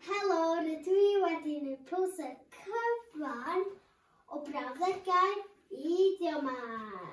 Helo, rydw i wedi gwneud poster cyfan o brawddegau idiomau.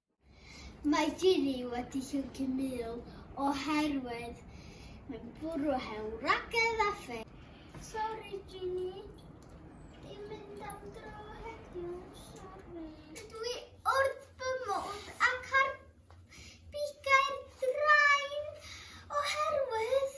Mae Jiri wedi llyncu Mil oherwydd mae'n bwrw hewl ragedd a ffeil. Sori Jini, dim mynd am dro heddiw, sori. Dydw i wrth fy modd ac ar bigau'r drain oherwydd